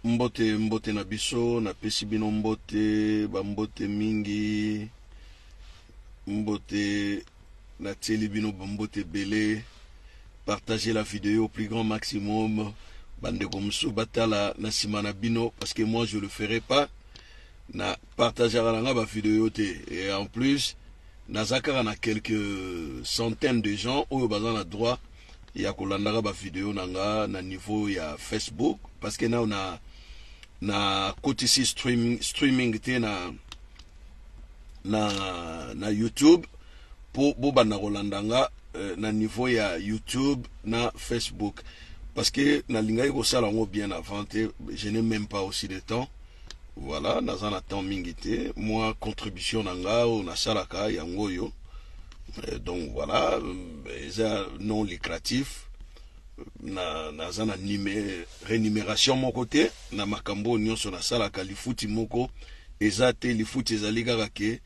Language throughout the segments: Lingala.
mbote mbote na biso napesi bino mbote bambote mingi mbote natieli bino bambote ebele partager la video au plus grand maximum bandeko mosusu batala na nsima na bino parce que moi je le ferai pas Na partageaka na nga ba video te et en plus naza kaka na quelques centaines de gens oyo baza na droit ya kolandaka ba video na nga na niveau ya Facebook parce que nao na na kotisi streaming, streaming te na na na YouTube po bobanda kolanda nga euh, na niveau ya YouTube na Facebook parce que nalingaki kosala yango bien avant te je n'ai même pas aussi de temps Voilà, naza na temps mingi te, mwa contribution na nga oyo nasalaka yango oyo. Euh, donc voilà, euh, eza non lucratif. Na naza na nime renumeration moko te na makambo oyo nyonso nasalaka, lifuti moko eza te, lifuti ezali kaka ke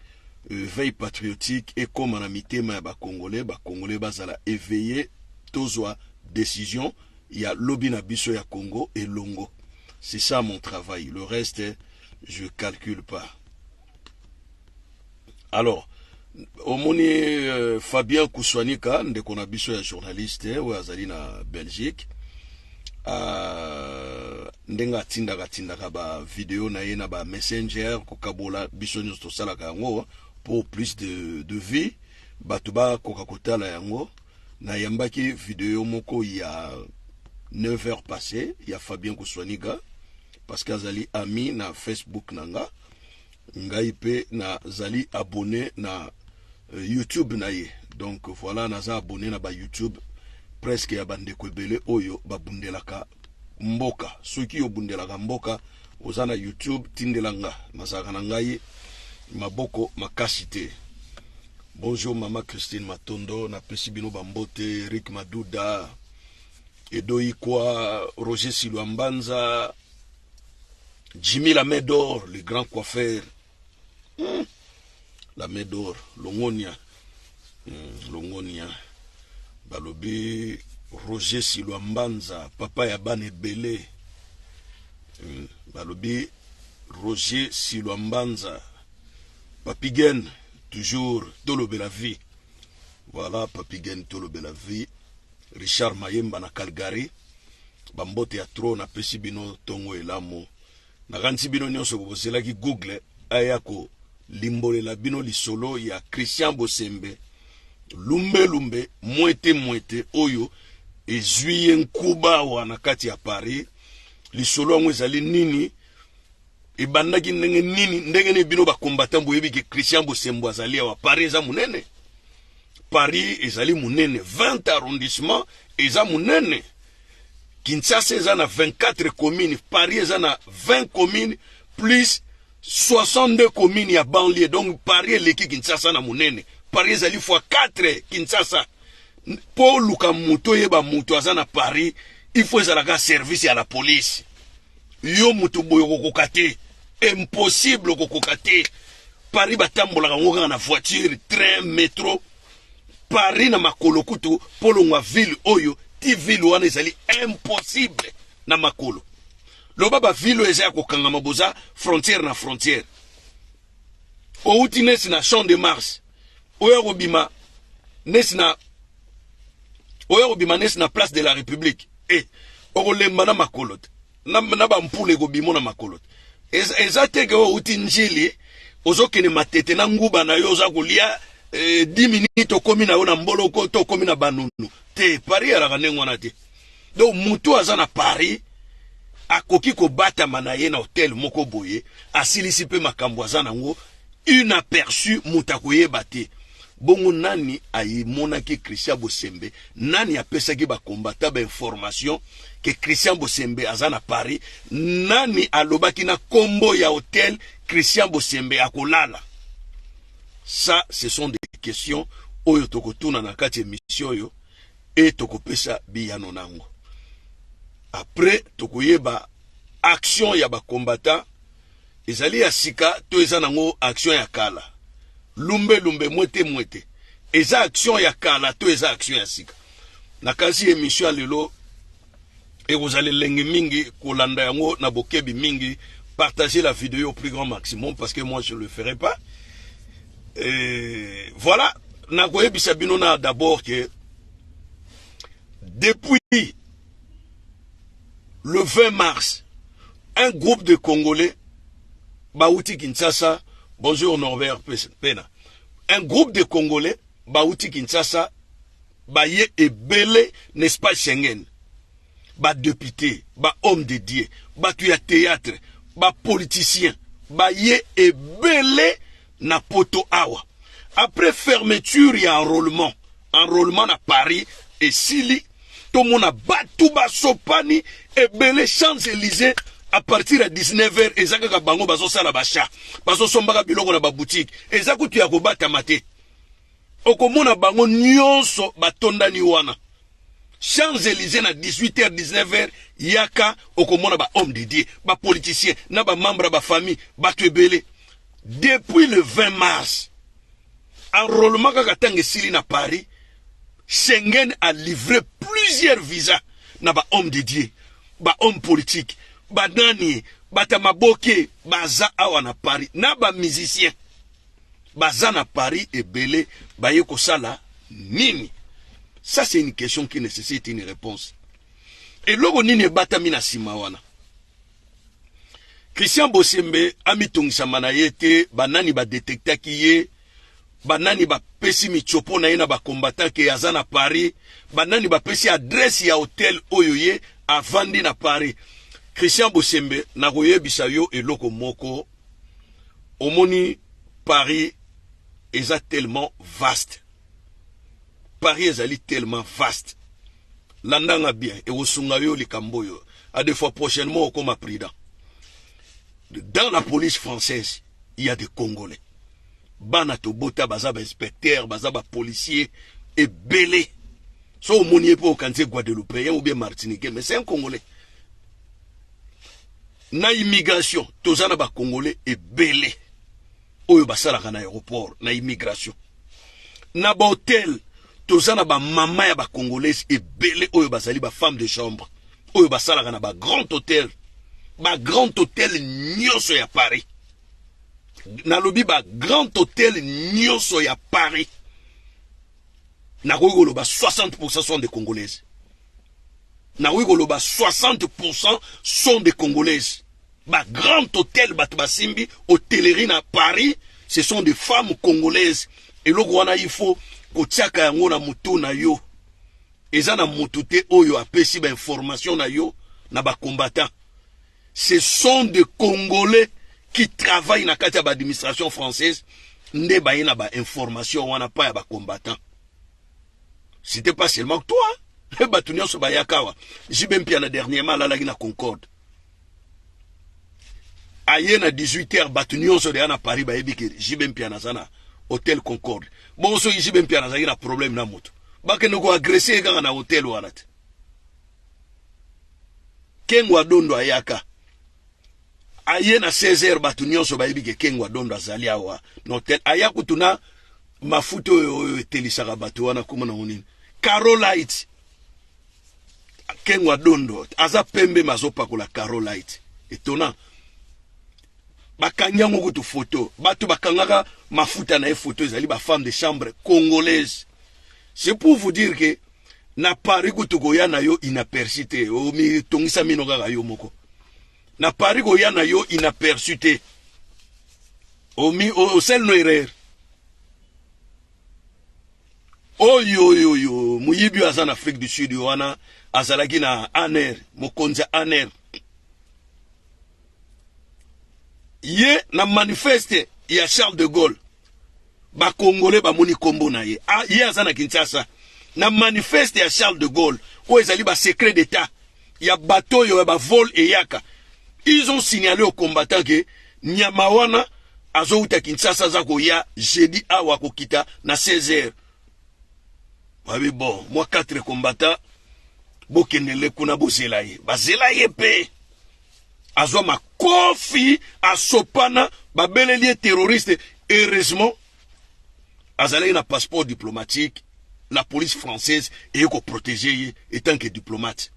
euh, veille patriotique ekoma na mitema ya ba Congolais, ba Congolais bazala éveillé, tozwa decision ya lobi na biso ya Congo elongo c'est ça mon travail le reste je calcule pas alors omoni euh, Fabien Kuswanika ndeko na biso ya journaliste oyo azali na Belgique euh, ndenge atindaka atindaka ba video na ye na ba messenger kokabola biso nyonso tosalaka yango pour plus de, de vie bato bakoka kotala yango Nayambaki video moko ya 9 heures passe ya Fabien Kuswaniga parce que azali ami na Facebook na nga ngai pe nazali abonné na euh, YouTube na ye donc voilà naza abonné na ba YouTube presque ya bandeko ebele oyo babundelaka mboka soki yo bundelaka mboka oza na youtube tindela nga nazalaka na ngai maboko makasi te bonjour mama christine matondo napesi bino bambote rik maduda edoikwa roger silwa mbanza jimmy lamedor le grand coiffeur Hmm. La Medor, Longonia. Hmm, Longonia. Balobi Roger Silwa Mbanza, papa ya bana ebele. Hmm. Balobi Roger Silwa Mbanza. Papigen, toujours tolobela vie. Voilà, Papigen tolobela vie. Richard Mayemba na Calgary. Bambote ya trop na pesi bino tongo elamu. Nakanisi bino nionso bozelaki Google aya ko limbolela bino lisolo ya Christian Bosembe, lumbe lumbe, mwete mwete oyo ezui ye nkuba awa na kati ya Paris. Lisolo yango ezali nini? Ebandaki ndenge nini? Ndenge nini bino ba combattants boyebi ke Christian Bosembo azali awa? Paris eza munene. Paris ezali munene, 20 arrondissement eza munene. Kinshasa eza na 24 communes, Paris eza na 20 communes plus 62 communes ya banlieue. Donc Paris eleki Kinshasa na munene. Paris ezali fois 4 Kinshasa. Po luka moto yeba moto aza na Paris, il faut ezalaka service ya la police. Yo moto boyo kokoka te. Impossible kokoka te. Paris batambolaka ngo kaka na voiture, train, metro. Paris na makolo kutu polongwa ville oyo ti ville wana ezali impossible na makolo loba ba ville oyo eza ya kokangama boza frontière na frontière outi nesi na champ de mars oyo akobima nesi na oyo akobima nesi na place de la république e eh, okolemba na makolo te na, na bampula ekobimo na makolo te eza, eza te ke outi njili ozokende matete na nguba na yo oza kolia eh, 10 minutes okomi na yo na mboloko to okomi na banunu te paris alaka ndenge wana te donc motu aza na paris akoki kobatama na ye na hotel moko boye asilisi mpe makambo aza nango Une aperçu moto akoyeba te. Bongo nani ayimonaki Christian Bosembe? Nani apesaki ba combattants ba information que Christian Bosembe aza na Paris? Nani alobaki na kombo ya hotel Christian Bosembe akolala? Ça, ce sont des questions oyo tokotuna na kati emission oyo et tokopesa biyano nango. Après tokoyeba action ya ba combattants Ezali ya sika to eza nango action ya kala? Lumbe lumbe mwete mwete eza action ya kala to eza action ya sika? Nakanisi emission ya lelo ekozala elengi mingi kolanda yango na bokebi mingi. Partagez la vidéo au plus grand maximum parce que moi je le ferai pas. Et voilà, nakoyebisa bino na d'abord que depuis le 20 mars un groupe de congolais bauti kinshasa bonjour norbert pena un groupe de congolais bauti kinshasa baye ebele n'est-ce pas schengen badepute bahomme de dieu bato ya théâtre bapoliticien baye ebele na poto awa après fermeture ya enrollement enrollement na paris esili tomona batu basopani ebele champs elysee à partir ya 19 heures eza kaka bango bazosala basha bazosombaka biloko na babutike eza kutu ya kobatama te okomona bango nyonso batondani wana Champs Elysees na 18h 19h yaka okomona ba hommes de Dieu, ba politiciens na ba membres ba famille, batu ebele. Depuis le 20 mars enrôlement kaka tango esili na Paris, Schengen a livré plusieurs visas na ba hommes de Dieu, ba hommes politiques, ba nani, bata maboke baza awa na Paris na ba musiciens. baza na Paris ebele baye kosala nini? Ça c'est une question qui nécessite une réponse. Eloko nini ebatami na sima wana? Christian Bosembe amitungisama na ye te, banani badetektaki ye, banani bapesi mitiopo na ye na bakombata ke aza na Paris, banani bapesi adresi ya hotel oyo ye avandi na Paris. Christian Bosembe, nakoyebisa yo eloko moko omoni paris eza tellement vaste paris ezali tellement vaste landanga bien ekosunga yo likambo oyo a de fois prochainement okoma prudent dans la police française il y a des congolais bana tobota baza bainspecteur baza bapolicier ebele so omoni ye mpe okanisi guadeloupéen ou bien martiniquais mais c'est un congolais na immigration toza na ba congolais ebele oyo basalaka na aéroport na immigration na ba hotel toza na ba mama ya ba congolais ebele oyo bazali ba femme de chambre oyo basalaka na ba grand hotel ba grand hotel nyonso ya paris nalobi ba grand hotel nyonso ya paris nakoki koloba 60 sont de congolaise Na koki koloba 60 pourcent sont des congolaises ba grand hotel batu basimbi hotellerie na paris ce sont des femmes congolaises eloko wana il faut kotiaka yango na motu na yo eza na motu te oyo apesi ba information na yo na ba combattant ce sont des congolais qui travaille na kati ya ba administration française nde baye na ba information wana pa ya ba combattant c'était pas seulement que toi eh, bato nyonso bayaka awa jibe mpiana dernièrement alalaki na concorde aye na 18 heures bato nyonso deya na paris bayebi ke jibe mpiana aza na hotel concorde bongo soki jibe mpiana azalaki na problème na moto bakende koagrese ye kaka na hotel wana te kengo adondo ayaka aye na 16 heures bato nyonso bayebi ke kengo adondo azali awa na hotel aya kutu na Mafuta oyo oyo etelisaka bato wana kombo nango nini? Carolite. Kengwa dondo aza pembe mazopakola Carolite. Etona. Bakangi yango kutu foto. Bato bakangaka mafuta na ye foto ezali ba femme de chambre congolaise. C'est pour vous dire que na Paris kutu koya na yo inaperçu te. Omitongisa mino kaka yo moko. na paris koya na yo inaperçu te omi osel no erreur oyo oyo oyo moyibi oyo aza na afrique du sud oyo wana azalaki na aner mokonzi ya aner ye na manifeste ya charles de gaulle Ba congolais bamoni kombo na ye ah, ye aza na Kinshasa na manifeste ya Charles de Gaulle oyo ezali ba secret d'etat ya bato oyo ya ba vol eyaka ils ont signalé aux combattants que nyama wana azowuta Kinshasa aza koya jeudi awa akokita na 16 heures babi bon mwa 4 combattants bokendele kuna bozela ye bazela ye mpe azwa makofi asopana babeleli ye terroriste heureusement azalaki na passeport diplomatique la police française eye koprotege ye etant que diplomate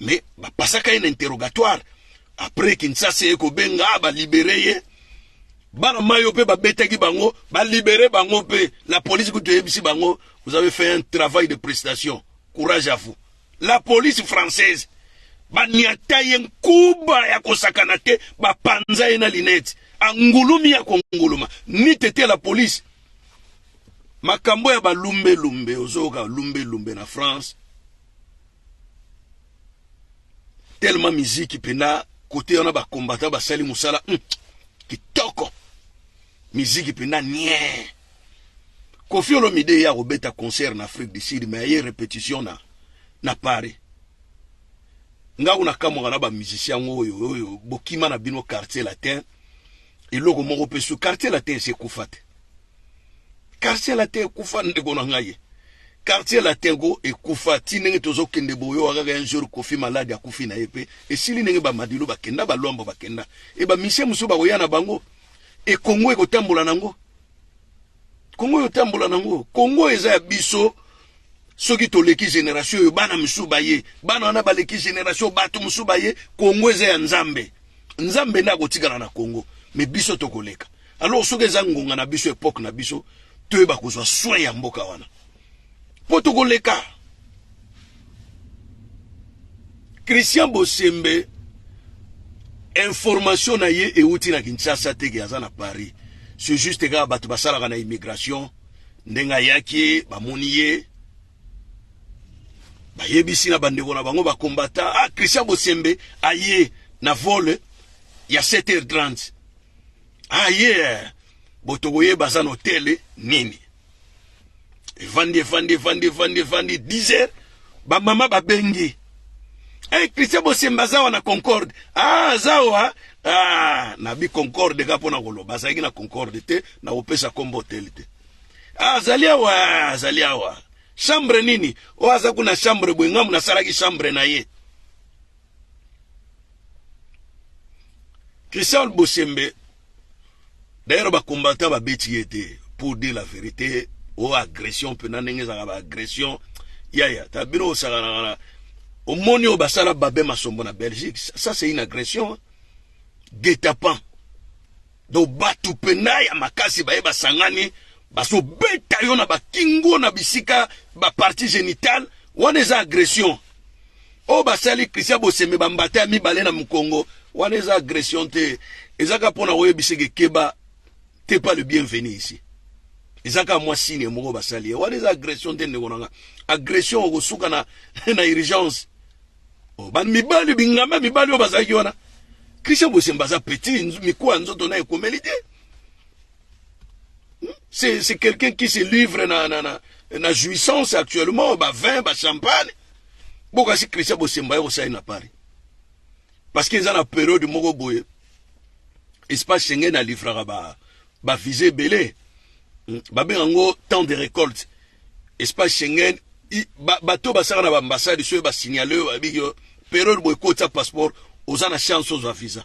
mais bapasaka ye na interrogatoire après kinshasa eye kobenga ah, balibere ye bana mayo mpe babetaki bango balibere bango mpe la police kutu eyebisi bango vous avez fait un travail de prestation courage à vous La police française baniata ye nkuba ya kosakana te bapanza ye na linete angulumi ya konguluma nite te la police makambo ya balumbelumbe ozoyoka lumbelumbe na france tellement miziki mpenza kote wana bakombata basali mosala mm, kitoko miziki mpenza nie Kofi Olomide ye akobeta concert na Afrique du Sud mais aye repetition na na Paris nga kuna kamwaka na ba musiciens yango oyo oyo bokima na bino quartier latin eloko moko mpe su quartier latin esi ekufa te quartier latin ekufa ndeko na ngai quartier latin go ekufa ti ndenge tozokende boyo akaka un jour kofi malade akufi na ye mpe esili ndenge bamadilu bakenda balwambo bakenda e bamisie mosusu bakoya na bango E Congo ekotambola nango. Congo oyo tambola nango. Congo eza ya biso soki toleki generation oyo bana mosusu baye bana wana baleki generation bato mosusu baye Congo eza ya Nzambe. Nzambe nde akotikala na Congo me biso tokoleka. Alors soki eza ngonga na biso epoque na biso toyeba kozwa soin ya mboka wana. Mpo tokoleka. Christian Bosembe information na ye euti na Kinshasa te ke aza na Paris. C'est juste kaka bato basalaka na immigration ndenge ayaki bamoni ye bayebisi na bandeko na bango bakombata ah, Christian Bosembe aye na vole ya 7h30 aye ah, botokoyeba aza na hotele nini evandi evandi evandi evandi evandi 10 heures bamama babengi hey, eh, christian bosemba aza wana concorde ah, aza wa ah, nabi concorde ka mpo na koloba azalaki na concorde te na kopesa nkombo hotele te ah, azali awa azali awa chambre nini oyo oh, aza kuna chambre boye ngambo nasalaki chambre na ye christian bosembe D'ailleurs ba combattants ba beti ye te pour dire la verite o oh, agression pe na ndenge ezalaka ba agression yaya ta bino osakanaka na omoni oyo basala babe masombo na Belgique ça c'est une agression guet-apens donc bato mpenza ya makasi baye basangani bazobeta yo na bakingo na bisika bapartie génitale wana eza agression oyo basali Christian Bosembe ba mbata ya mibale na mukongo wana eza agression te eza kaka mpo na koyebisa ke keba te pas le bienvenu ici eza kaka mwa sine moko basali ye wana eza agression te ndeko na nga agression okosuka na, na urgence oh, mibali bingamba mibali oyo bazalaki wana Christian Bosembe aza petit mikuwa nzoto na ekomeli te C'est c'est quelqu'un qui se livre na na na na jouissance actuellement ba vin ba champagne. Boka si Christian Bosemba yo ça na Paris. Parce qu'ils ont la période moko boye. Espace Schengen a livré ba ba visée belé. Hmm. Ba ben ngo temps de récolte. Espace Schengen ba bato ba sara na ba ambassade sur ba signaler ba biyo période boye kota passeport aux ana chance aux visa.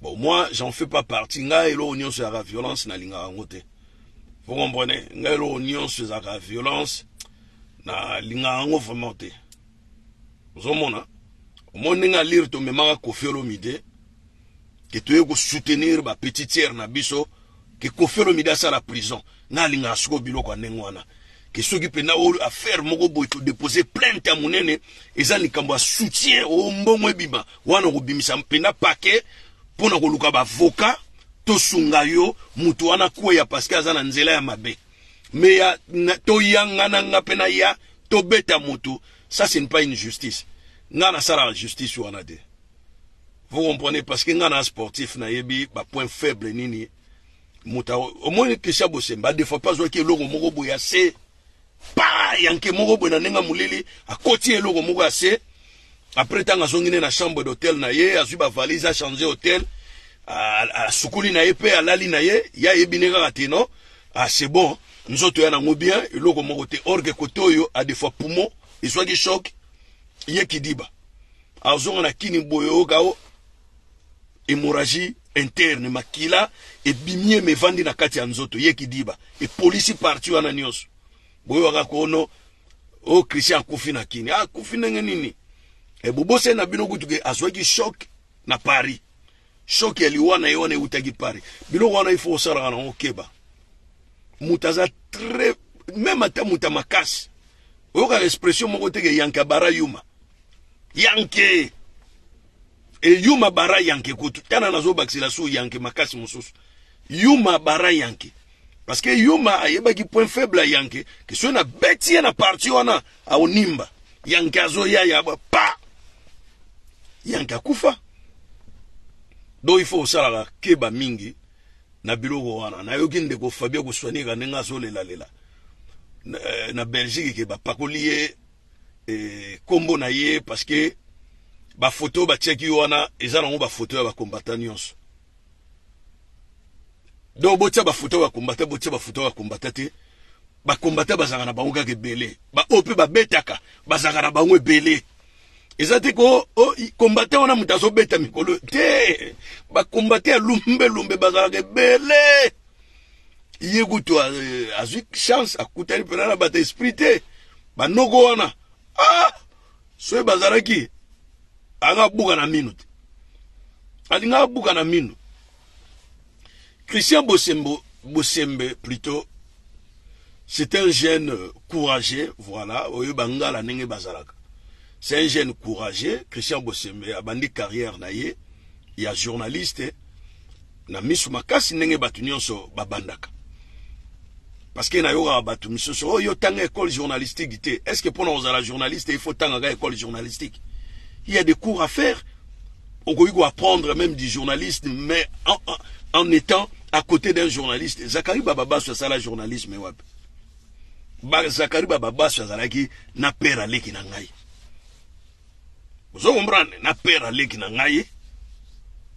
Bon, moi, j'en fais pas partie. Nga eloko nyonso yaka violence na linga yango te. Vous comprenez? Nga eloko nyonso ezaka violence na linga yango vraiment te. Ozomona? Omoni ndenge ya lire tomemaka Koffi Olomide ke toye ko soutenir ba petitière na biso ke Koffi Olomide asala prison. Nga alingaka sikoyo biloko ya ndenge wana ke soki pena oyo affaire moko boye to deposer plainte ya munene eza likambo ya soutien o oh, mbongo ebima wana okobimisa pena paquet pona koluka ba avocat tosunga yo mutu wana kweya parce que aza na nzela ya mabe mais ya toyangana nga pena ya tobeta mutu ça c'est pas une justice nga nasalaka justice wana te vous comprenez parce que nga na sportif nayebi ba point faible nini muta omoni Christian Bosemba de fois pas oki eloko moko boye ya se pa yanke moko boye na ndenge molili akoti eloko moko ya se après ntango azongi ne na chambre d'hôtel na ye azwi bavalise achange hôtel asukuli na ye mpe alali na ye ye ayebi ne kaka te non ah, c'est bon nzoto ya nango bien eloko moko te orge kote oyo a de fois poumon ezwaki choc ye kidiba azonga na kini boye oyoka o Hemorragie interne, makila ebimi ye mais evandi na kati ya nzoto, ye kidiba epolisi partie wana nionso. Boyokaka kono o oh, Christian akufi na Kini, ah, akufi ndenge nini? E bobose na bino kutu ke azwaki choc na Paris, choc ya liwa na ye wana ewutaki Paris. Biloko wana il faut osalaka nango keba. Moto aza très meme ata moto ya makasi oyokaka expression moko te ke yanke abara yuma yanke Et Yuma Bara Yanke kutu tana nazo bakisela su Yanke makasi mususu. Yuma Bara Yanke. Parce que Yuma ayebaki point faible ya Yanke que soki na beti ye na parti wana aonimba. Yanke azoya ya pa. Yanke akufa. Donc il faut osalaka keba mingi na biloko wana. Nayoki ndeko Fabien Kuswanika ndenge azolela lela. Na, eh, na Belgique ke bapakoli ye eh, kombo na ye parce que ba photo ba tiaki wana eza nango ba photo ya ba combattant nyonso donc botia ba photo ya combattant botia ba photo ya combattant te ba combattant bazanga na bango kaka ebele ba oyo mpe babetaka bazanga na bango ebele eza te ko oh, combattant wana moto azobeta mikolo te ba combattant ya lumbe lumbe bazalaka ebele ye kutu azwi chance akutani mpena na bato esprit te banoko wana ah! soki bazalaki anga abuka na mino te alinga abuka na mino christian bosembo bosembe plutôt c'est un jeune courageux voilà oyo bangala ndenge bazalaka c'est un jeune courageux christian bosembe abandi carrière na ye ya journaliste na misu makasi ndenge bato nyonso babandaka parce que nayokaka bato misusu oyo oh, yo tanga école journalistique te est ce que mpona kozala journaliste il faut tangaka école journalistique il y a des cours à faire okoki koapprendre même du journaliste mais en, en, en étant à côté d'un journaliste zakari bababaso asala journalisme wapi zakari bababaso azalaki na pere aleki na ngai Ozo comprendre na père aleki na ngai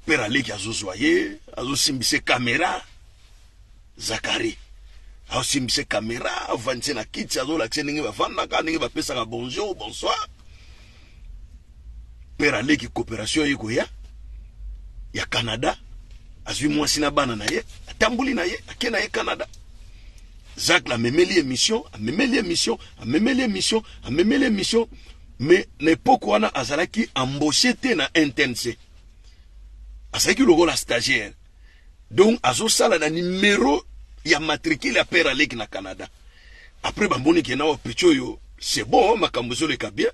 père aleki azozwa ye azosimbisa kamera zakari asimbisa kamera avandise na kiti azolakisa ndenge bafandaka ndenge bapesaka bonjour bonsoir père aleki coopération ye koya ya canada azwi mwasi na bana na ye atamboli na ye ake na ye canada zacle amemeli émission amemeli émission amemeli émission amemeli émission mais na epoque wana azalaki embauche te na internse azalaki lokola stagiaire donc azosala na numero ya matricule ya père aleki na canada après bamoni ke nawa picho oyo c'est bon makambo ezoleka bien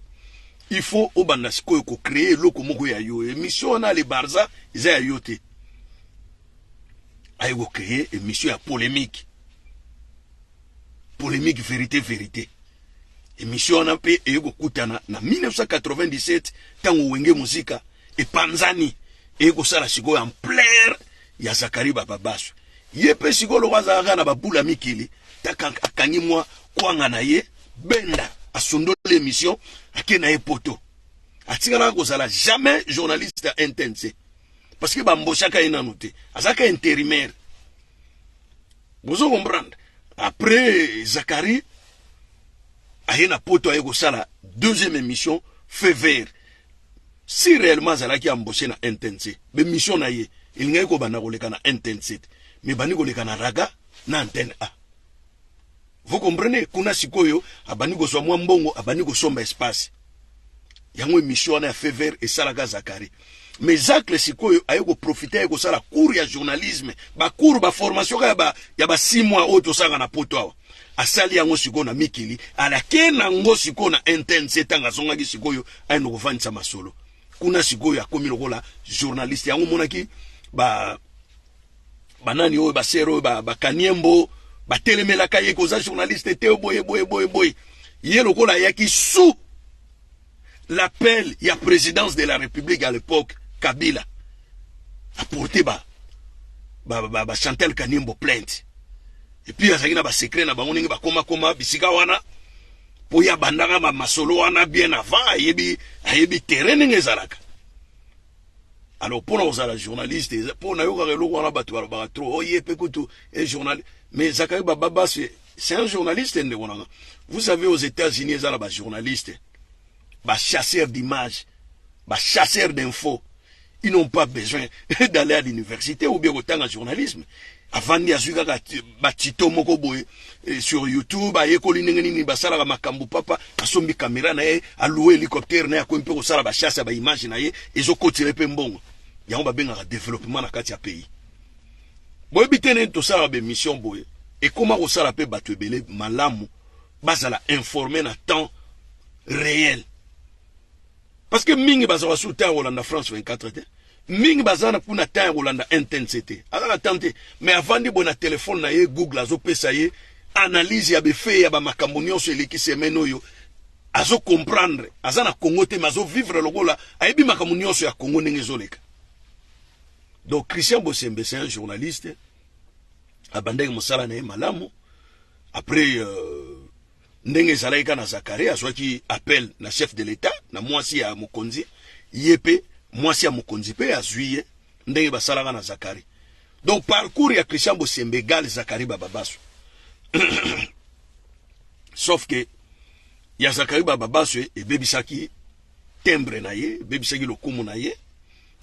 il faut obanda sikoyo kocree eloko moko ya yo émission wana le barza eza ya yo te aye kocree émission ya polémique polemique verite verite emission wana mpe eye kokutana na 1997 ntango wenge muzika epanzani eye kosala sikoyo ampleur ya zakari bababasu ye mpe sikoyo loko azalaka na babula mikili akangi mwa kwanga na ye benda asundoli emission ake na ye poto atikalaka kozala jamais journaliste ya ntnc parce que bamboshaka ye nanu te azalaka interimaire bozo comprendre après Zachary aye na poto aye kosala deuxième émission feu vert si réellement azalaki embauché na intensité bemission na ye elingaki kobanda koleka na intensité mais bandi koleka na raga na antenne a Vous comprenez? Kuna sikoyo abandi kozwa mwa mbongo, abandi kosomba espace. Yango emission wana ya Fever esalaka Zakari. Mais Zacle sikoyo aye ko profiter aye kosala cours ya journalisme, ba cours ba formation ya ba ya ba 6 mois oyo tosanga na poto awa. Asali yango sikoyo na mikili, alake na ngo sikoyo na intense tanga zongaki sikoyo aye no kovandisa masolo. Kuna sikoyo akomi lokola journaliste. Yango monaki ba banani oyo basere oyo bakaniembo batelemelaka ye koza journaliste te boye boye boye boye ye lokola ayaki sous l'appel ya présidence de la république à l'époque kabila aporte ba ba, ba, ba chantal kaniembo plainte epuis azalaki na basecret na bango ndenge bakomakoma bisika wana mpo ye abandaka masolo wana bien avant ayebi ayebi terrain ndenge ezalaka alors pona kozala journaliste po nayokaka eloko wana bato balobaka trop oye oh, pe kutu e journal mais zakari bababa c'est un journaliste ndeko nanga vous savez aux états-unis eza na bajournaliste bachasseur d'image bachasseur d'info ils n'ont pas besoin d'aller à l'université ou bien kotanga journalisme avandi azwi kaka batito moko boye eh, sur youtube ayekoli ndenge nini basalaka makambo papa asombi kamera na ye alue hélicoptère na ye akomi mpe kosala bachasse ya baimage na ye ezokotela ye mpe mbongo yango babengaka développement na kati ya pays boyebi te nini tosalaka baémission boye ekoma kosala mpe bato ebele malamu bazala informe na temps réel parce que mingi bazalaka sur temps ya kolanda france 24 te mingi baza na kuna temps ya kolanda intnc te aza na temps te mais avandi boye na telefone na ye google azopesa ye analyse ya befe ya bamakambo nyonso eleki semaine oyo azo comprendre aza na congo te mais azovivre lokola ayebi makambo nyonso ya congo ndenge ezoleka donc christian bosembe c'est un journaliste abandaki mosala na ye malamu après euh, Ndenge ezalaki kaka na Zakaria, azwaki appel na chef de l'etat, na mwasi ya mokonzi, ye pe mwasi ya mokonzi pe azwi ye, ndenge basalaka na Zakari. Donc parcours ya Christian Bosembe egal Zakari Bababasu. Sauf que ya Zakari Bababasu ebebisaki timbre na ye, ebebisaki lokumu na ye.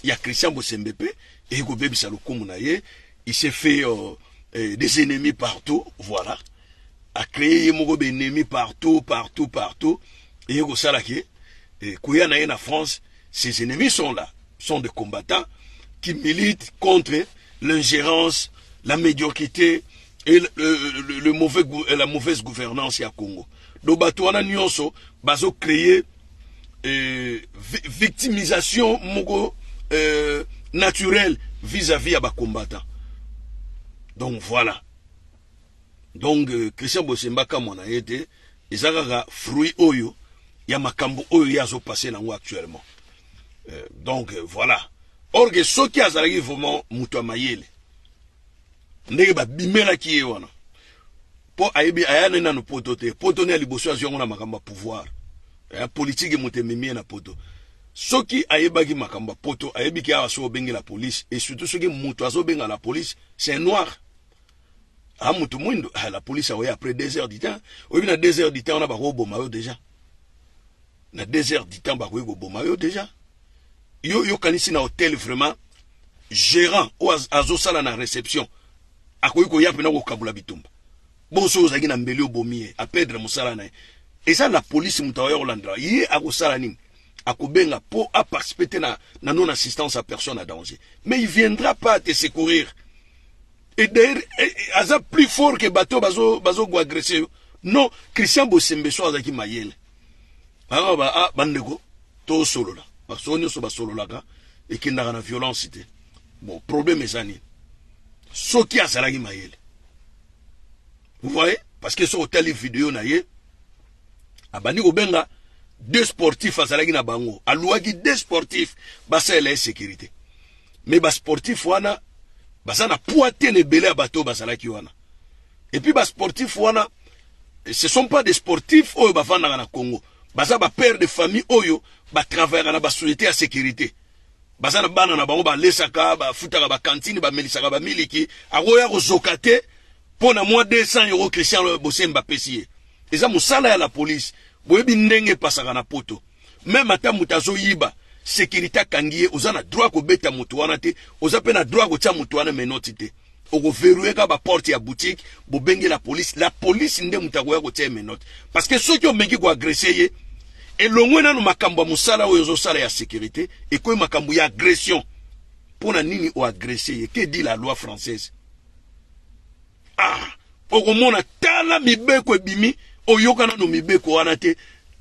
ya Christian Bosembe pe et ko bebisa lokumu na ye il s'est fait euh, euh, des ennemis partout voilà a créer ye moko ennemis partout partout partout et ko sala ke eh, koya na ye na France ses ennemis sont là sont des combattants qui militent contre l'ingérence la médiocrité et le, le, le mauvais, la mauvaise gouvernance ya Congo donc bato wana nyonso bazo créer euh, victimisation moko euh, naturelle vis-à-vis -vis ya bacombattant donc voilà donc euh, christian bosemba kamwa na ye te eza kaka fruit oyo ya makambo oyo ye azopase nango actuellement euh, donc euh, voilà orge soki azalaki vraiment moto ya mayele ndenge babimelaki ye wana Po ayebi aya ne nanu poto te poto ne ya liboso azwi yango na makambo ya pouvoir eh, politique moto ememi ye na poto soki ayebaki makambo ya poto ayebi ke awa soki obengi la police et surtout soki moto azobenga la police c'est un noir a ah, moto mwindo ah, la police akoya après deux heures du temps oyebi na deux heures du temps wana bakoboma yo déjà na deux heures du temps bakoki koboma yo déjà yo yokanisi na hotel vraiment gérant oyo azosala na réception akoki koya pena kokabola bitumba bonso ozalaki na mbeli obomi ye apedre mosala na ye eza la polisi moto akoya kolandela ye akosala nini akobenga po aparticipe te na, na non assistance ya personne à danger mais il viendra pas te secourir et d'ailleurs eh, eh, aza plus fort que bato bazo bazo go agresser yo non christian bosembe so azalaki mayele bango ba ah, bandeko tosolola basolo nyonso basololaka ekendaka na violence te Bon, problème eza nini? Soki azalaki mayele. Vous voyez? Parce que soki otali video na ye, abandi kobenga deux sportifs azalaki na bango. Aluaki deux sportifs basalela ye sécurité. Mais ba sportifs wana baza na poids te na ebele ya bato bazalaki wana. Et puis ba sportifs wana ce sont pas des sportifs oyo bavandaka na Congo. Baza ba pères de famille oyo ba travaillaka na ba sociétés ya sécurité. baza na bana na bango balesaka bafutaka bakantine bamelisaka bamiliki akoya kozoka te mpo na mwa 200 euro christian bosemba apesi ye eza mosala ya la polise boyebi ndenge epasaka na poto meme ata moto azoyiba sekirite akangi ye oza na droit kobeta moto wana te oza mpe na droit kotya moto wana menoti te Oko verrouiller ka ba porte ya boutique, bobenge la police, la police nde moto akoya kotia ye menotte. Parce que soki omeki ko agresser ye, elongwe nanu makambo ya mosala oyo ozosala ya securite, ekomi makambo ya agression. Pona nini o agresser ye? Que dit la loi française? Ah, okomona tala mibeko ebimi, oyoka nanu mibeko wana te.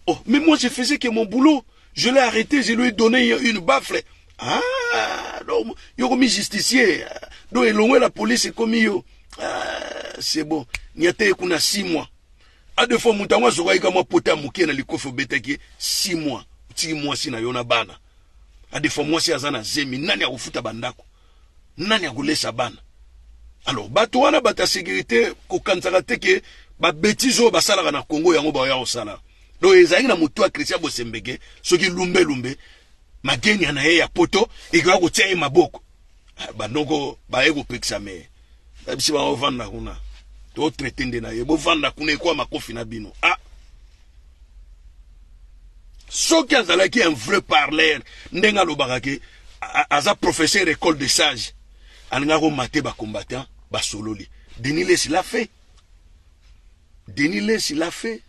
Oh, mais moi je faisais que mon boulot. Je l'ai arrêté, je lui ai donné une baffle. Ah, donc yo komi justifier donc elongwe la police ekomi yo ah, c'est bon niata ye kuna 6 mois a de fois moto yango azokaki ka mwa pota ya moke na likofi obetaki ye 6 mois otiki mwasi na yo na bana a de fois mwasi aza na zemi nani akofuta bandako nani akolesa bana alors bato wana bato ya sécurité kokanisaka te ke babetise oyo basalaka na congo yango baoya kosala donc ezalaki na motu ya christian bosembeke soki lumbelumbe magenia na ye ya poto ekoya kotia ye maboko ah, bandoko baye kopekisa me babisi bango ovanda kuna totraite nde na ye bovanda kuna ekoya makofi na bino a ah. soki azalaki un vrai parleur ndenge alobaka ke aza professeur école de sage alingaki komate bacombattant basololi denis lesi l'a fait denis lesi l'a fait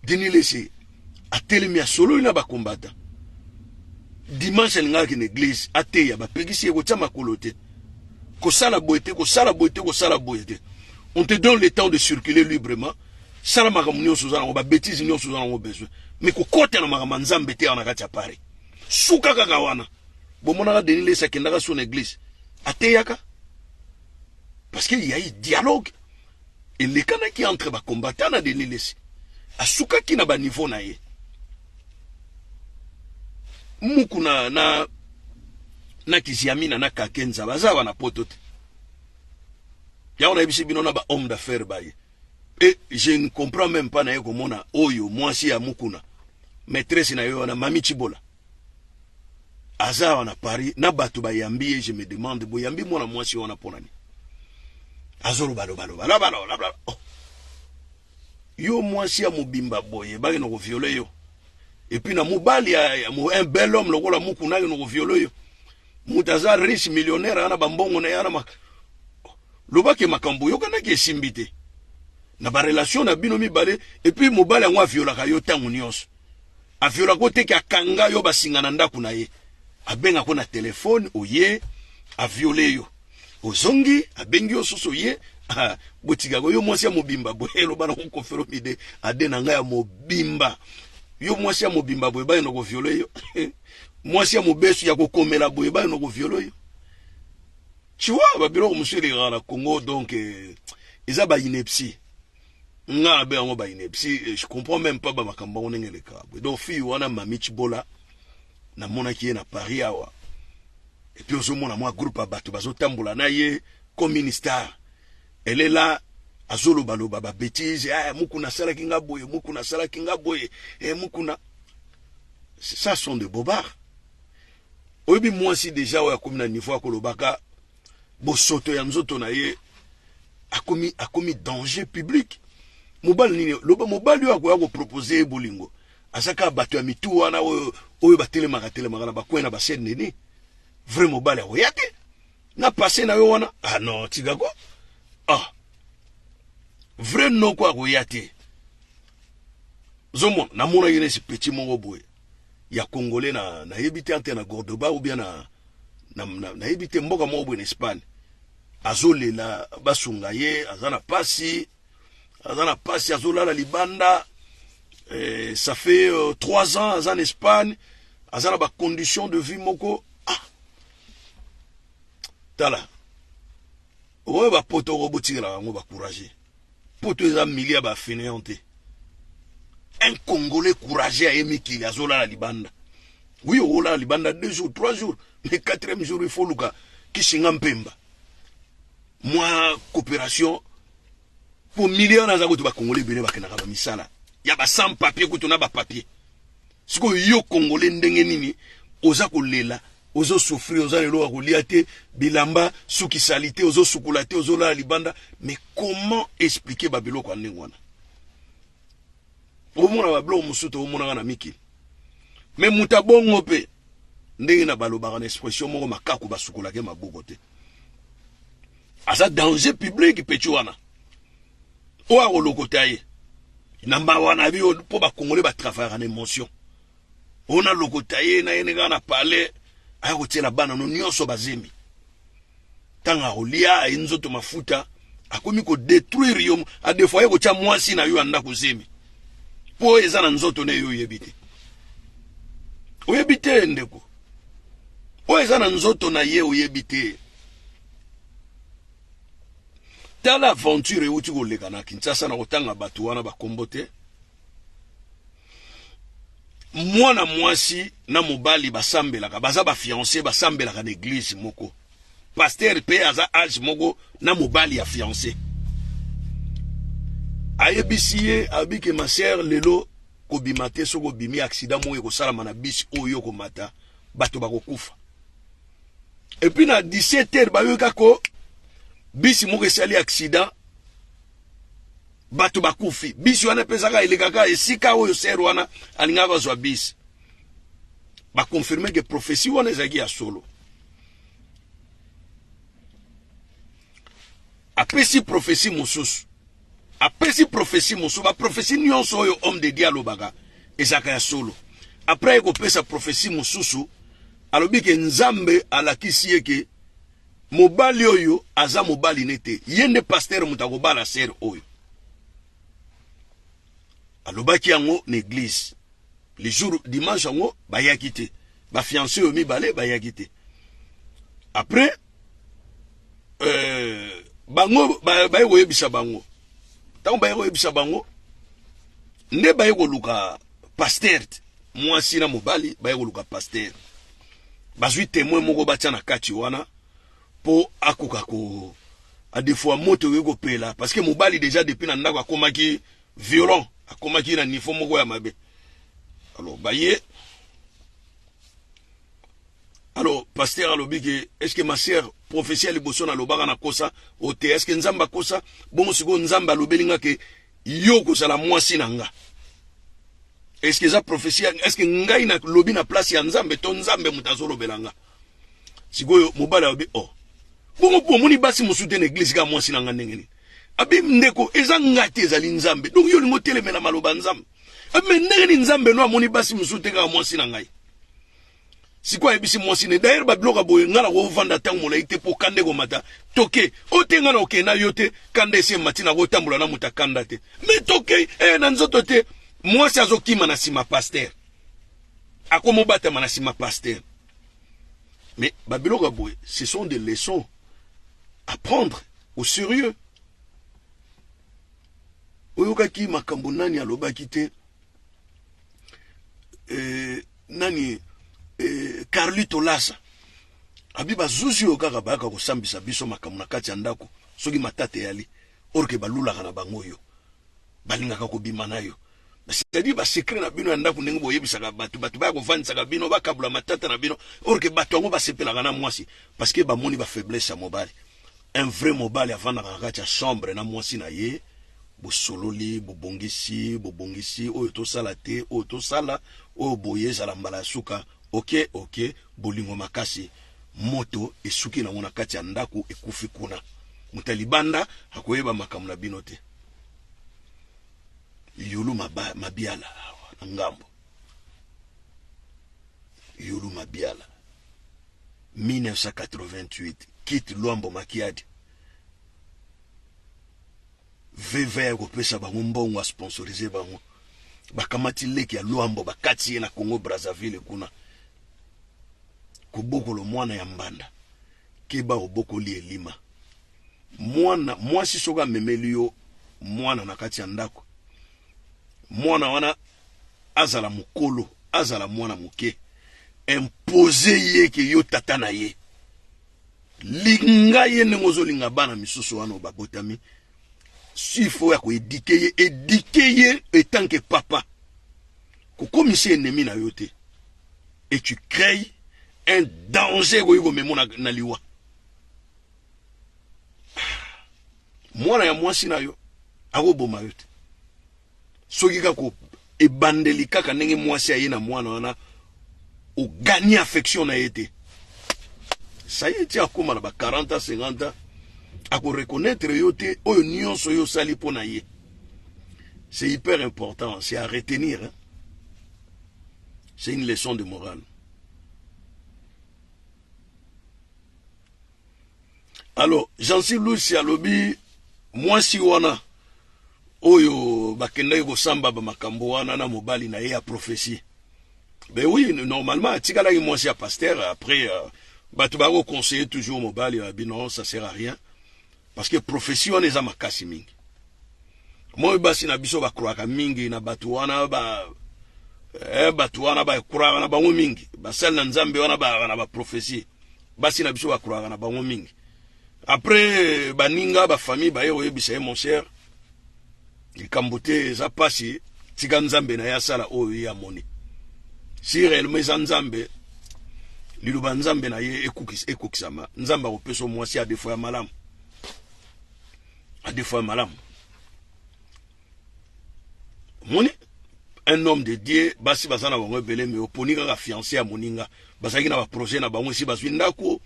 Denis Lessie atelemi asololi na ba combattant dimanche alingaka kende eglise ateya bapekisi ye kotia makolo te kosala boye te kosala boye te kosala boye te on te donne le temps de circuler librement sala makambo nyonso oza nango babetise nyonso oza nango besoin mais kokota na makambo ya nzambe te awa na kati ya paris suka kaka wana bomonaka denis lesi akendaka so na eglise ateyaka parce que yayi dialogue elekanaki entre ba combattants na Denis Lessi asukaki na ba niveau na ye mukuna na na kiziamina na kakenza baza wana poto te yango nayebisi bino na ba homme d'affaires baye et je ne comprends même pas naye komona oyo mwasi ya mukuna maîtresse na yo wana mami chibola aza awa na Paris na bato bayambi ye je me demande boyambi mwana mwasi wana mpo na nini azoloba loba loba loba loba loba oh. yo mwasi ya mobimba boye bake na koviole yo epuis na mobali ya, ya un bel homme lokola mukuna ake na koviole yo moto aza riche millionnaire ana bambongo na ye ana mak... lobaki makambo oyokanaki esimbi te na barelation na bino mibale epuis mobali yango aviolaka yo ntango nyonso a viola ko te ke akanga yo basinga na ndaku na ye abenga ko na telefone oye a viole yo ozongi abengi yo susu oye ah, botika ko yo mwasi ya mobimba boye eloba na kokofelo mide ade na ngai ya mobimba yo mwasi ya mobimba boye baye na koviole yo mwasi ya mobesu ya kokomela boye baye na koviole yo tu vois ba biloko mosusu elekaka na Congo donc eh, eza ba ineptie nga na be yango ba inepsi eh, je comprends même pas ba makambo yango ndenge eleka boye donc fille wana mami chibola namonaki ye na paris awa epuis ozomona mwa groupe ya bato bazotambola na ye comme une star elela azolobaloba babetise eh, ah, mukuna asalaki nga boye mukuna asalaki nga boye eh, mukuna ça sont de bobard oyebi mwasi deja oyo akomi na niveau ya kolobaka bosoto ya nzoto na ye akomi akomi danger public mobali nini loba mobali oyo akoya kopropose ye bolingo aza kaka bato ya mitu wana oyo oyo batelemaka telemaka na bakwei na basene nini vrai mobali akoya te na pase na yo wana ah non tikako ah vrai noko akoya te zomona namonaki nesi petit moko boye ya congolais na nayebi te entre na Gordoba ou bien na na nayebi te mboka moko boye na Espagne azolela basunga ye aza na pasi aza na pasi azolala libanda eh, ça fait euh, trois ans aza na Espagne aza na ba conditions de vie moko ah tala Oyo ba poto oko botikela bango ba courage poto eza milieu ya ba faineant te un congolais courage aye mikili azolala libanda oui okolala libanda deux jours trois jours mais quatrième jour il faut luka kishinga mpemba mwa coopération Po million wana aza kutu ba congolais ebele bakendaka ba misala ya ba sans papier kutu na ba papier. Sikoyo yo congolais ndenge nini oza kolela ozo souffrir oza lelo ya kolia te bilamba suki salite ozo sukula te ozo lala libanda mais comment expliquer ba biloko ya ndenge wana omona ba biloko mosusu te omonaka na mikili mais moto abongo mpe ndenge na balobaka na expression moko makaku basukolake maboko te aza danger public petit wana oyo akolokota ye na mawa na biyo mpo bakongole batravaillaka na émotion oyo nalokota ye na ye ndenge na palais aya kotiela bana no nyonso bazemi ntango akolia aye nzoto mafuta akomi kodetruire yo adefo aye kotya mwasi na yo ya ndako zemi mpo eza na nzoto na ye oyebi te oyebi te ndeko oyo eza na nzoto na ye oyebi te tala aventure euti koleka na kinshasa na kotanga bato wana bakombo te mwana mwasi na mobali basambelaka baza bafiance basambelaka na eglize moko paster mpe aza age moko na mobali ya fiance ayebisi ye abike masere lelo kobima te soki obimi aksida moko ekosalama na bisi oyo okomata bato bakokufa et puis na 17 heures bayoki kaka ko bisi moko esali accident bato bakufi bisi wana mpe ezaka elekaka esika oyo ser wana alingaka bazwa bisi bakonfirme ke profesi wana ezalaki ya solo apesi profesi mosusu Apesi prophetie mosusu. Ba prophetie nionso oyo homme de Dieu alobaka ezaka ya solo. Après ye kopesa prophetie mosusu, alobi ke Nzambe alakisi ye ke mobali oyo aza mobali ne te. Ye nde pasteur moto akobala sœur oyo. Alobaki yango na eglise. Le jour dimanche yango bayaki te. Ba fiancés oyo mibale bayaki te. Après euh, bango baye ba koyebisa bango ntango baye koyebisa bango nde baye koluka pastere mwasi na mobali baye koluka pastere bazwi temoin moko batya na kati wana mpo akoka ko adefoa moto ekoki kopela parce que mobali deja depuis na ndako akomaki violent akomaki na niveau moko ya mabe alors baye Alors pasteur alobi ke est-ce que ma sœur prophetie ya liboso na lobaka na kosa o te est-ce que nzambe akosa bongo sikoyo nzambe alobeli nga ke yo okozala mwasi na nga est-ce que eza prophetie est-ce que ngai na lobi na place ya nzambe to nzambe moto azolobela nga sikoyo mobali alobi oh bongo mpo omoni basi mosusu te na eglise kaka mwasi na nga ndenge nini abi ndeko eza nga te ezali nzambe donc yo olingi otelemela maloba nzambe abi me ndenge nini nzambe no amoni basi mosusu te kaka mwasi na ngai sikoyo ayebisi mwasi ne d'ailleurs babiloko ya boye ngai nakovanda ntango molai te mpo kanda ekomata toke o te ngai nakokei na yo te kanda esi emati nakotambola na moto akanda te me tokei e na nzoto te mwasi azokima na nsima paster akomobatama na nsima paster mais babiloko ya boye ce sont des leçons à prendre au sérieux oyokaki makambo nani alobaki te euh, nani eh, Carlito Lasa abi bazuzi oyo kaka bayaka kosambisa biso makambo na kati ya ndako soki matata eyali orke balulaka na bango yo balingaka kobima na yo c'est-à-dire basekre na bino ya ndako ndenge boyebisaka bato bato baya kofandisaka bino bakabula matata na bino orke bato yango basepelaka na mwasi parceke bamoni bafaiblesse ya mobali Un vrai mobali avandaka na kati ya chambre na mwasi na ye bosololi bobongisi bobongisi oyo tosala te oyo tosala oyo boye ezala mbala ya suka oke oke bolingo makasi moto esuki nango na kati ya ndako ekufi kuna moto ya libanda akoyeba makambo na bino te yulu mabiala awa na ngambo yulu mabiala 1988 quitte Luambo Makiadi veve ya kopesa bango mbongo a sponsoriser bango bakamati leki ya Luambo bakati ye na Congo Brazzaville kuna kobokolo mwana ya mbanda keba obokoli elima mwana mwasi soki amemeli yo mwana na kati ya ndako mwana wana azala mukolo azala mwana muke impose ye ke yo tata na ye linga ye ndenge ozolinga bana misusu wana babotami sifo ya koedike ye edike ye etanke papa kokomisa enemi na yo te et tu cree un danger ekoki komemo na, na liwa mwana ya mwasi na yo akoboma yo te soki kaka ebandeli kaka ndenge mwasi aye na mwana wana ogani affection na ye te saye ti akóma na ba 40 ans 50 ans akoreconnaitre yo te oyo nyonso yo osali mpo na ye c'est hyper important c'est à retenir hein? c'est une leçon de morale alors jansi lusi alobi mwasi wana oyo bakendaki kosamba bamakambo wana na mobali na ye ya prophesie ben oui normalement atikalaki mwasi ya pasteur après euh, bato bakoconseille toujours mobali ya bino ça sert à rien Parce que prophetie wana eza makasi mingi. Moi basi na biso ba croaka mingi na batu wana ba eh, batu wana ba croaka na bango mingi. Basali na Nzambe wana ba na ba prophetie. Basi na biso ba croaka na bango mingi. Après baninga ba famille ba ye oyebisa ye mon cher Likambo te eza pasi tika nzambe na ye asala oyo ye amoni si reellement eza nzambe liloba nzambe na ye ekokisama nzambe akopesa mwasi adefo ya malamu adefo ya malamu omoni un homme de dieu basi baza na bango ebele me oponi kaka fiance ya moninga bazalaki na baprojet na bango esi bazwi ndako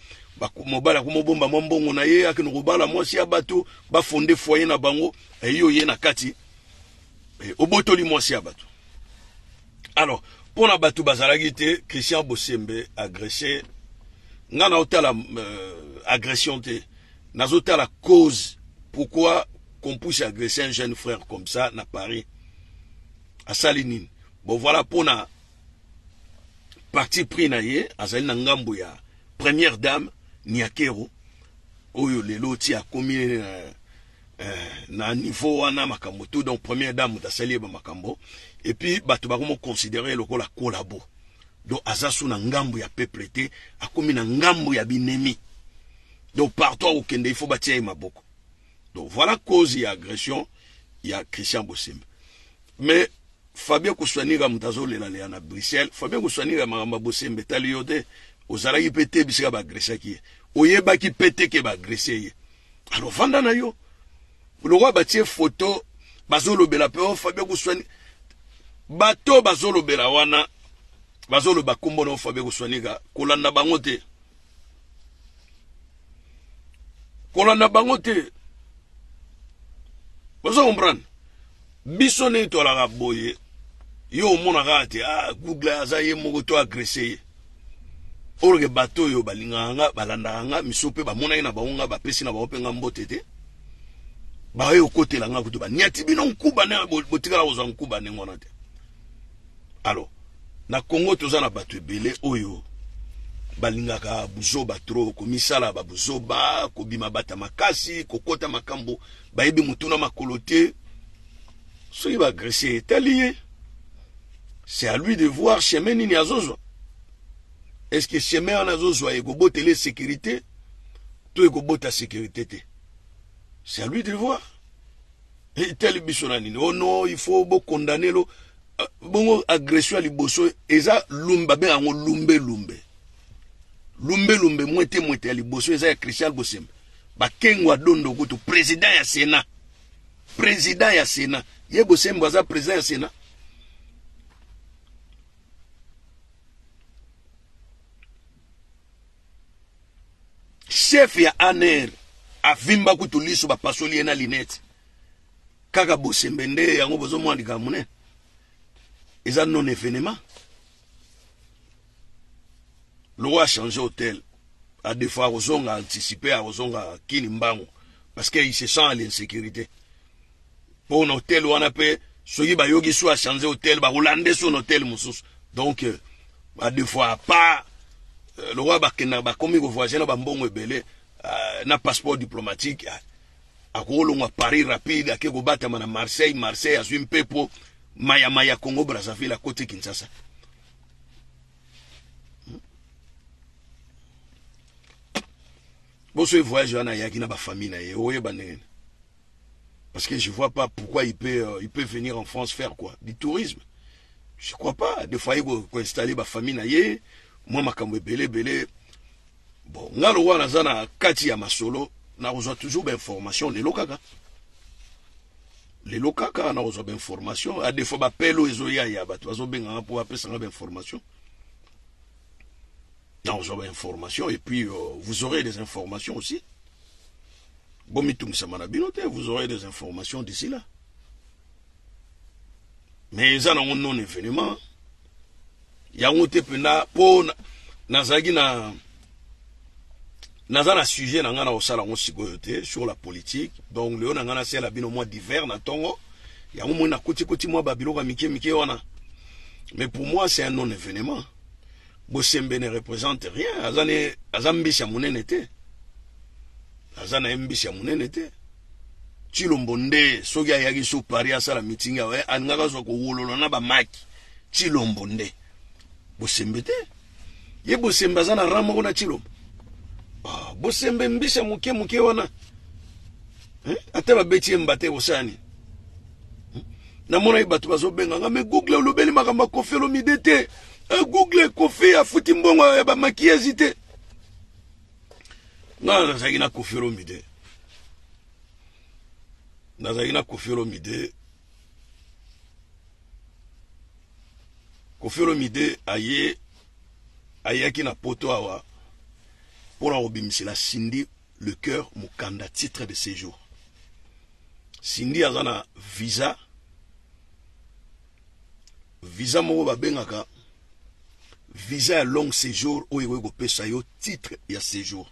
mobali akomobomba mwa mbongo na ye akende kobala mwasi ya bato bafonde foye na bango eh, yo ye na kati eh, obotoli mwasi ya bato alors mpo na bato bazalaki te christian bosembe agresse ngai naotala euh, agression te nazotala cause pourquoi qu'on puisse agresser un jeune frère comme ça na paris asali nini bon voilà mpo na parti pris na ye azali na ngambo ya première dame niakero oyo lelo ti akomi na Eh, na niveau wana makambo tout donc première dame moto asali ye bamakambo epuis bato bakomoconsidere ye lokola kolabo donc aza so na ngambo ya peuple te akomi na ngambo ya binemi donc partout akokende il faut batia ye maboko donc voilà cause ya agression ya christian bosembe Mais Fabien Kuswanira moto azolela leya na Bruxelles. Fabien Kuswanira makambo ya bosembe etali yo te. Ozalaki mpe te bisika baagresaki ye. Oyebaki mpe te ke baagrese ye. Alors vanda na yo. Lokola batie foto bazolobela mpe o oh, Fabien Kuswani. Bato bazolobela wana bazoloba nkombo na yo Fabien Kuswanika kolanda bango te. Kolanda bango te. Bazo comprendre. Biso nde toalaka boye yo omona kaka te ah, Google aza ye moko to agresse ye orke bato oyo balingaka nga balandaka nga miso mpe bamonaki na bango nga bapesi na bango mpe nga mbote te baye okotela nga kutu baniati bino nkuba nde botikala kozwa nkuba ndenge wana te alors na congo toza na bato ebele oyo balingaka buzoba tro komisala babuzoba kobima bata makasi kokota makambo bayebi motu na makolo te soki baagrese etali ye c'est à lui de voir chemin nini azozwa est ce que chemin wana azozwa ekobotela ye sécurité to ekobota sécurité te c'est à lui de voir etali biso na nini ono oh il faut bokondane lo euh, bongo agression ya liboso eza lumbe babe yango lumbe lumbe lumbe lumbe mwete mwete ya liboso eza ya christian bosembe Bakengo ya dondo kutu president ya Senat. President ya Senat. Ye Bosembo aza president ya Senat. Chef ya ANR avimba kutu liso bapasoli ye na linete. Kaka Bosembe nde yango bozomwa likambo ne. Eza non evenement. lokola a changer hotel a defo akozonga anticiper akozonga kini mbangu parce que il se sent à l'insécurité mpo na hotel wana mpe soki bayoki so achange hotel bakolande so na hotel mosusu donc euh, badefois a part euh, lokola bakenda bakomi kovoyage na bambongo ebele euh, na passeport diplomatique akolongwa paris rapide ake kobatama na marseille marseille azwi mpepo mayamaya congo brazzaville akoti kinshasa boso voyage wana ayaki na bafamille na ye oyeba ndenge nini parce que je vois pas pourquoi il peut, euh, il peut venir en france faire quoi du tourisme je crois pas de fois ye koinstalle bafamille na ye mwa makambo ebele ebele Bon nga lokola naza na kati ya masolo nakozwa toujours ba information lelo kaka lelo kaka nakozwa ba information a defaut ba pelo ezoya ya bato bazobenga nga mpo apesa nga ba information nakozwa ba information et puis euh, vous aurez des informations aussi bomitungisama na bino te vous aurez des informations d'ici là mais eza nango non evenement yango te mpenza mpo nazalaki na naza na sujet na ngai na kosala yango sikoyo te sur la politique donc lelo na ngai nasala bino mwa divers na ntongo yango moi nakotikoti mwa babiloko ya mike mike wana mais pour moi c'est un non événement Bosembe ne represente rien, aza ne aza mbisi ya munene te. Aza na mbisi ya munene te. Chilombo nde soki ayaki so Paris asala meeting awa eh, alingaka zwa kowolola na bamaki Chilombo nde bosembe te ye bosembe aza na rang moko na Chilombo ah, bosembe mbisa moke moke wana eh? ata babeti ye mbate kosala nini namonaki bato bazobenga nga me google olobeli makambo ya kofi olomide te eh, google kofi afuti mbongo ya bamakiyazi te nga nazalaki na kofi olomide nazalaki na kofi olomide kofi olomide aye ayaki na poto awa mpo na kobimisela sindi Le coeur mukanda titre de sejour. Cindy aza na visa visa moko babengaka visa ya long séjour oyo ekoki kopesa yo titre ya séjour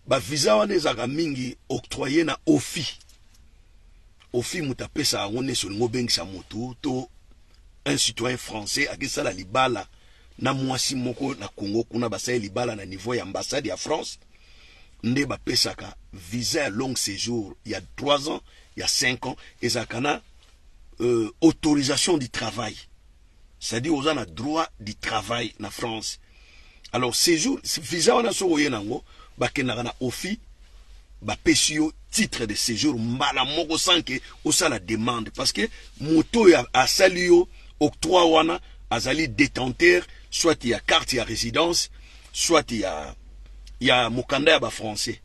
bavisa wana ezalaka mingi octroye na ofi ofi moto apesaka yango nesi olingi obengisa motu to un citoyen français akesala libala na mwasi moko na Congo kuna basali libala na niveau ya ambassade ya France nde bapesaka visa ya long séjour ya 3 ans ya 5 ans ezalaka na euh, autorisation du travail c'est-à-dire oza na droit du travail na France alors séjour visa wana soki oye nango bakendaka na office ba pesi yo titre de séjour mbala moko sans que osala demande parce que moto oyo asali yo octroi wana azali détenteur soit ya carte ya résidence soit ya ya mokanda ya ba français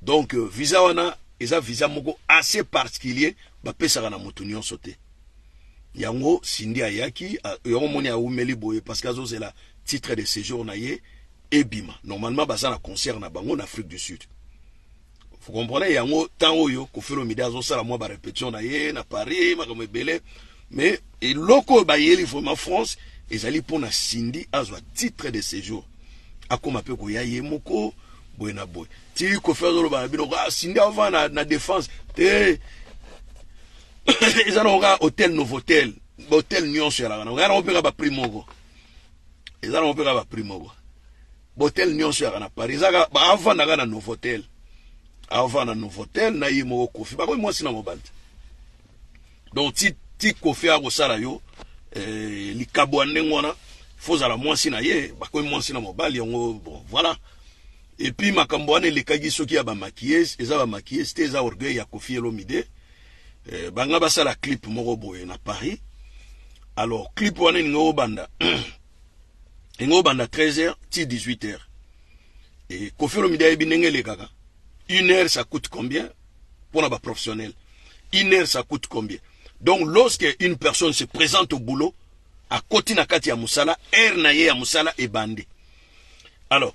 donc euh, visa wana eza visa moko assez particulier bapesaka na moto nyonso te yango sindi ayaki euh, yango moni aumeli boye parce que azozela titre de séjour na ye ebima normalement baza na concert na bango na Afrique du Sud vous comprenez yango temps oyo Koffi Olomide azosala mwa ba repetition na ye na Paris makambo ebele mais eloko oyo bayeli vraiment France ezali mpo na Cindy azwa titre de séjour akoma mpe koya ye moko boye na boye ti Koffi azoloba na bino ah, Cindy ava na, na défense te eza na koka hotel novotel bahotel nyonso yalaka na koya na kopeka baprix moko eza nango mpe kaka prix moko botel nyonso yaka na paris eza kaka baavanda kaka na novotel avanda novotel na ye moko kofi bakomi mwasi na mobandi donc ti, ti kofi akosala yo eh, likabo ya ndenge wana fo ozala mwasi na ye bakomi mwasi na mobali yango bon voilà epuis makambo wana elekaki soki ya bamaquillese eza bamaquillese te eza orgueil ya kofi elomide eh, banga basala clip moko boye na paris alors clip wana elingi obanda elingi obanda 13 heures ti 18 heures e kofi olomide ayebi ndenge elekaka une heure ça coûte combien mpona baprofessionnel une heure ça coûte combien donc lorsque une personne se présente au boulot akoti na kati ya mosala heure na ye ya mosala ebandi alors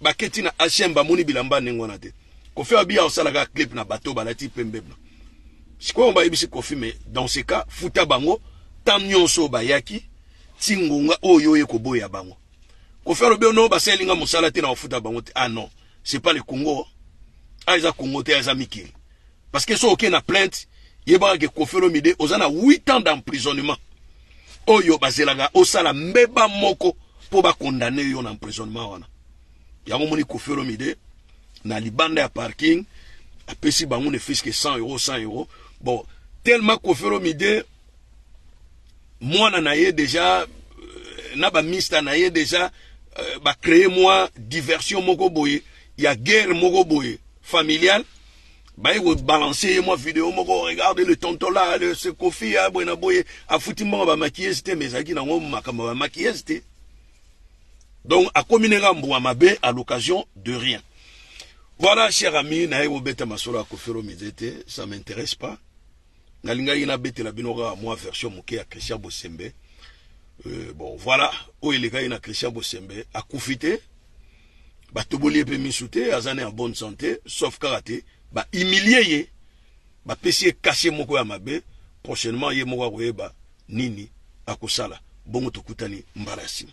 Baketi na HM bamoni bilamba ndenge wana te. Kofi Abia osalaka clip na bateau balati pembe blanc. Sikoyo bayebisi Kofi mais dans ce cas futa bango temps nyonso bayaki ti ngonga oyo oye koboya bango. Kofi alobi oh no basaleli nga mosala te na kofuta bango te. Ah non, c'est pas le Congo. Ah eza Congo te, eza mikili. Parce que soki oke na plainte, yebaka ke Kofi Olomide oza na 8 ans d'emprisonnement. oyo bazelaka osala mbeba moko mpo bakondane yo na emprisonnement wana yango moni Koffi Olomide na libanda ya parking apesi bango ne fiske 100 euro 100 euro bon tellement Koffi Olomide mwana na ye deja euh, na bamista na ye deja euh, bacreye mwa diversion moko boye ya guerre moko boye familiale baye ko balancer ye mwa video moko regarde le tonton là le se kofi ya boye na boye afuti mbongo ba maquillage te mais ezalaki nango makambo ba maquillage te donc akomi ndenge ambua mabe à l'occasion de rien voilà cher ami naye kobeta masolo ya kofi olomide te ça m'intéresse pas Nalingaki nabetela bino kaka mwa version moke ya Christian Bosembe. Euh, bon voilà, oyo elekaki na Christian Bosembe akufi te, batoboli ye mpe misu te, aza na ya bonne santé, sauf kaka te ba humilie ye, bapesi ye kashe moko ya mabe. Prochainement ye moko akoyeba nini akosala. Bongo tokutani mbala ya nsima.